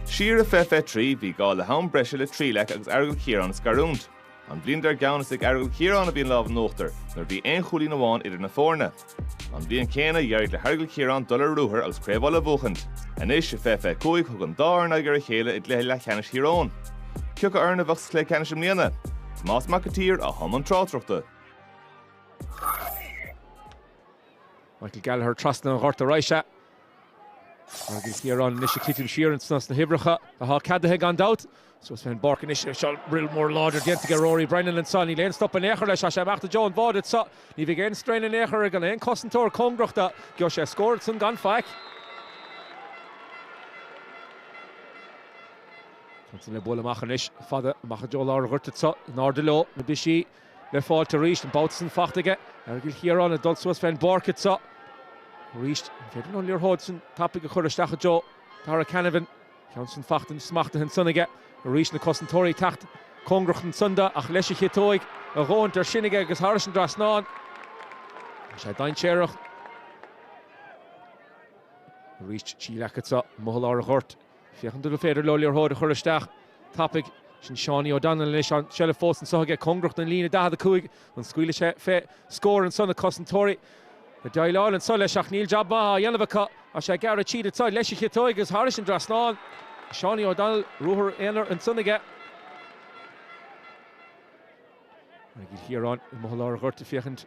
Siar i fiche fiche trí, bhí gá le ham breise le Trí Leac agus Aireagal Chiaráin a scarúint. An bhliain dar gceann is ag Aireagal Chiaráin a bhí an lámh in uachtar, nuair a bhí aon chúilín amháin idir na foirne. An bhliain céanna, d'éirigh le hAireagal Chiaráin dul ar ruathar agus Craobh Uladh a bhuachaint. Anois, i fiche fiche cúig, thug an dá fhoireann aghaidh ar a chéile i gcluiche leathcheannais Thír Eoghain. Cé acu foireann a bheadh sa chluiche ceannais i mbliana? Tomás Mac an tSaoir i mbun na tráchtaireachta. Michael Gallagher trasna an ghoirt arís. Aireagal Chiaráin anois ag titim siar in sna huimhreacha atá ceadaithe gan dabht. Suas fén bpáirc anois anso, rith mór láidir déanta aige Rory Brennan anseo. Níl aon stop in aon chor leis, tá sé ag imeacht i dtreo an bháide anseo. Ní bheidh aon srian in aon chor, gan aon chosantóir cóngarach do. Gheobhadh sé scór ansan gan faic. Ansin le bualadh amach anois fada amach i dtreo lár an ghoirt anseo, in airde leo na buachaillí. le fáil arís. An babhta san fachta aige Aireagal Chiaráin ag dul suas fén bpáirc anseo arís. An féidir an liathróid san tapaidh a chuir isteach i dtreo Darragh Canavan. Ceann san fachta anois smachtaithe ansan aige arís. Na cosantóirí ag teacht cóngarach ansan do ach leis a chiotóig a dhóthain air sin aige agus thar an dtrasnán. Sé dainséarach arís. Trí Leac anso, i lár an ghoirt. Féachaint an féidir leo liathróid a chur isteach tapaidh. Sin Seánie O'Donnell anois ann. Seilbh fós anseo aige, cóngarach don líne 45. An scaoileadh sé fé scór anso na cosantóirí ag déileáil anso leis ach níl jab maith á dhéanamh acu. Tá sé ag gearradh tríd anso leis a chiotóig agus thar an dtrasnán. Seánie O'Donnell, ruathar aonair ansan aige. Aireagal Chiaráin i lár an ghoirt ag féachaint.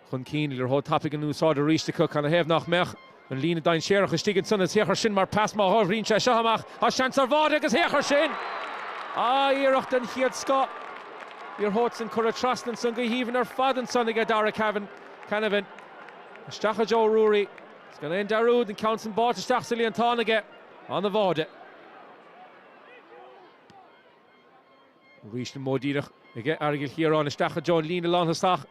chun cinn liathróid tapaidh in úsáid arís acu. Canathaobh nach mbeadh? An líne dainséarach istigh ansan is féach air sin mar pas má thagann sé seo amach, tá seans ar bháide agus féach air sin! Ah, iarracht den chéad scoth liathróid san curtha trasna ansan go haoibhinn ar fad ansan aige Darragh Cavan, Canavan. Isteach i dtreo Ruairí, is gan aon dearúd, an ceann san báite isteach sa líontán aige. Ana-bháide. Arís an modh díreach aige, Aireagal Chiaráin isteach i dtreo an líne lánthosach.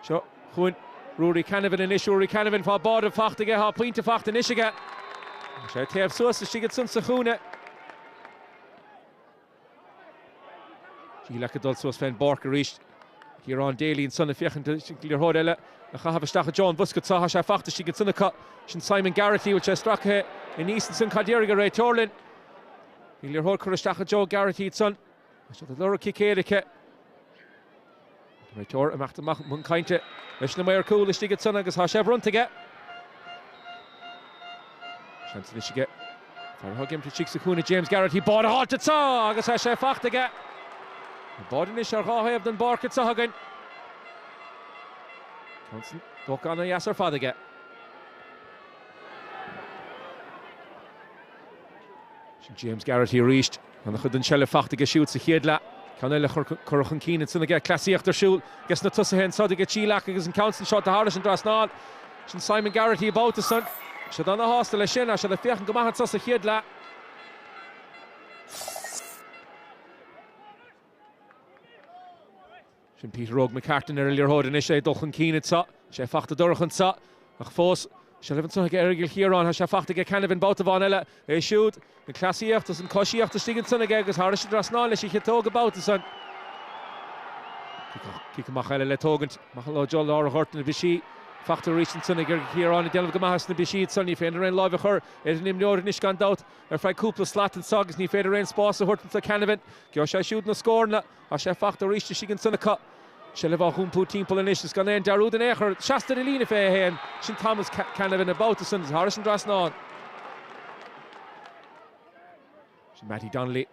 Seo chugainn Ruairí Canavan anois, Ruairí Canavan, tá báide faighte aige, tá pointe faighte anois aige. Tá sé ag téamh suas istigh ansan sa chúinne. Trí Leac ag dul suas fén bpáirc arís. Ciarán Daly ansan ag féachaint le liathróid eile a chaitheamh isteach i dtreo an bhosca. Tá sé faighte istigh ansan acu. Sin Simon Garrity an bhfuil sé stractha anuas ansan. Cad a déarfaidh an réiteoir linn? Bhí liathróid curtha isteach i dtreo Garrity ansan, é siúd ag lorg cic éirice. Tá an réiteoir ag imeacht amach chun cainte leis na maoir cúil istigh ansan agus tá sé bronnta aige. Seans anois aige fear atá ag imirt istigh sa chúinne, James Garrity, báide a fháilt anso agus tá sé fachta aige. Tá báide anois ar dhá thaobh den bpáirc anso againn. An ceann san tógtha ana dheas ar fad aige. Sin James Garrity arís. Ana chuid den tseilbh fachta aige siúd sa chéad leath. Ceann eile curtha chun cinn ansan aige. Cleasaíocht ar siúl aige sna tosaithe anso aige Trí Leac agus an ceann san seolta thairis an dtrasnán. Sin Simon Garrity an babhta san. Siad ana shásta leis sin. Tá siad ag féachaint go maith anso sa chéad leath. Sin Peter Óg McCartan ar an liathróid anois, é ag dul chun cinn anso. Tá sé fachta dorcha anso, ach fós, seilbh ansan aige Aireagal Chiaráin. Tá sé fachta aige Canavan babhta amháin eile. É siúd, an chleasaíocht is an choisíocht istigh ansan aige agus thairis an dtrasnán leis an chiotóg an babhta san. Cic amach eile le tógaint. Amach leo i dtreo lár an ghoirt, na bristí fachta arís ansan aige Aireagal Chiaráin, ag déanamh go maith sna bristí ansan. Ní féidir aon láimh a chur ar an imreoir anois gan dabht, ar feadh cúpla slat anso agus ní féidir aon spás a thabhairt anso do Canavan. Gheobhaidh sé siúd na scóranna. Tá sé fachta arís istigh ansan acu. Seilbh á hiompú timpeall anois is gan aon dearúd in aon chor. Seasta ar an líne 21. Sin Thomas Canavan an babhta san is thairis an dtrasnán. Sin Mattie Donnelly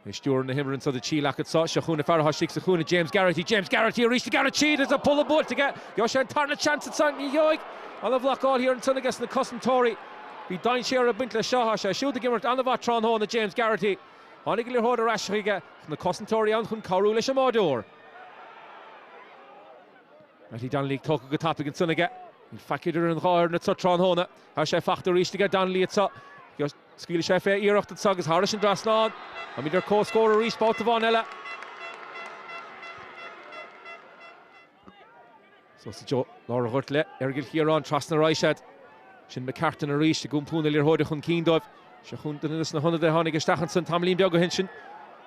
ag stiúradh na himeartha anso do Thrí Leac anso. Seo chugainn an fear atá istigh sa chúinne. James Garrity, James Garrity arís, Garrity arís is an polla buailte aige. Gheobhaidh sé an tarna seans ansan. Ní gheobhaidh. Ana bhlocáil thiar ansan aige sna cosantóirí. Bhí dainséar ag baint leis seo. Tá sé siúd ag imirt an-mhaith tráthnóna, James Garrity. Tháinig an liathróid ar ais chuige ach na cosantóirí ann chun cabhrú leis an mbáideoir. Mattie Donnelly, tógtha go tapaidh ansan aige. Níl faic idir an dhá fhoireann anso tráthnóna. Tá sé fachta arís aige Donnelly anso. Scaoilfidh sé fé iarracht anso agus thairis an dtrasnán. Táimid ar comhscór arís babhta amháin eile. Suas i dtreo lár an ghoirt le hAireagal Chiaráin trasna arís iad. Sin McCartan arís ag iompú na liathróide chun cinn dóibh. Seo chugainn duine des na hionadaithe a tháinig isteach ansan tamaillín beag ó shin. Sin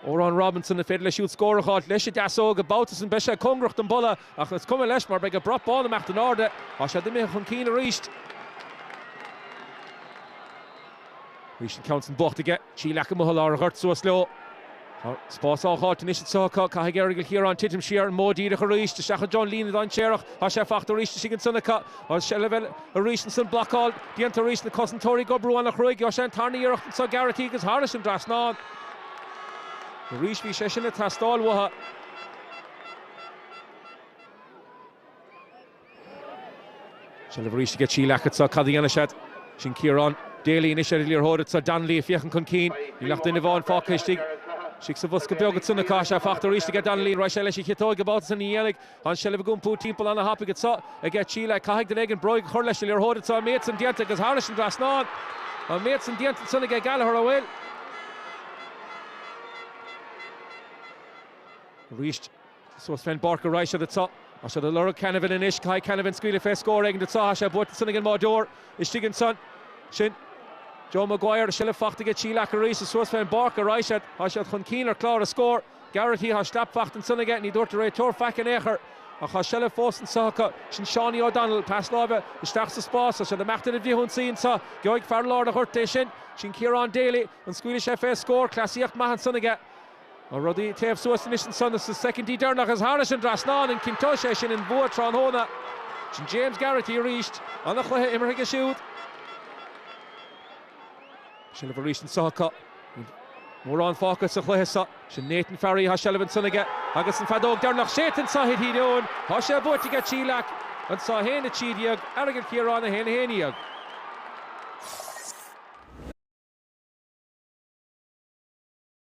Odhrán Robinson, an féidir leis siúd scór a fháilt? Leis an deasóg, an babhta san beidh sé cóngarach don bpolla ach is cuma leis mar beidh an brat bán ag imeacht in airde. Tá siad imithe chun cinn arís. Arís an ceann san fachta aige. Trí Leac amuigh i lár an ghoirt, suas leo. Tá spás á fháilt anois anso acu. Caithfidh Aireagal Chiaráin titim siar an modh díreach arís, isteach i dtreo an líne dhainséarach. Tá sé fachta arís istigh ansan acu. Tá seilbh eile arís ansan. Blocáil déanta arís. Na cosantóirí ag oibriú ana chruaidh. Gheobhaidh sé an tarna iarracht anso. Garrity agus thairis an dtrasnán. Arís bhí sé sin ag teastáil uathu. Seilbh arís aige Trí Leac anseo, cad a dhéanfaidh siad? Sin Ciarán Daly anois ar an liathróid anseo, Donnelly ag féachaint chun cinn, níl ach duine amháin fágtha istigh, istigh sa bhosca beag anseo, tá sé faighte arís aige Donnelly, an raghaidh sé leis an chiotóig an babhta so? Ní dhéanfaidh. Tá an tseilbh ag iompú timpeall an-tapaidh anseo aige Trí Leac, caithfidh duine éigin bróig a chur leis an liathróid anseo, an méid san déanta agus thairis an trasnán, an méid san déanta ansan aige Gallagher, an bhfuil? Arís. Suas fén bpáirc a raghaidh siad anseo. Tá siad ag lorg Canavan anois. Caithfidh Canavan scaoileadh fé scór éigin anseo. Tá sé buailte ansan ag an mbáireoir istigh ansan. Sin Joe Maguire. Seilbh faighte aige Trí Leac arís is suas fén bpáirc a raghaidh siad. Tá siad chun cinn ar chlár a scór. Garrity, tá slap faighte ansan aige. Ní dúirt an réiteoir faic in aon chor. Ach tá seilbh fós anseo acu. Sin Seánie O'Donnell. Pas láimhe isteach sa spás. Tá siad ag imeacht ar an bhfrithionsaí anseo. Gheobhaidh fear lár an ghoirt é sin. Sin Ciarán Daly. An scaoilfidh sé fé scór? Cleasaíocht maith ansan aige. Tá rudaí ag téamh suas anois ansan sna soicindí deireanacha is thairis an dtrasnán, an gcinnteoidh sé sin an bua tráthnóna? Sin James Garrity arís. An-chluiche imeartha aige siúd. Seilbh arís anso acu. Níl mórán fágtha sa chluiche seo. Sin Nathan Farry, tá seilbh ansan aige agus an feadóg deireanach séidte anso i dTír Eoghain. Tá sé buaite aige Trí Leac anso, 1-13, Aireagal Chiaráin 1, 11.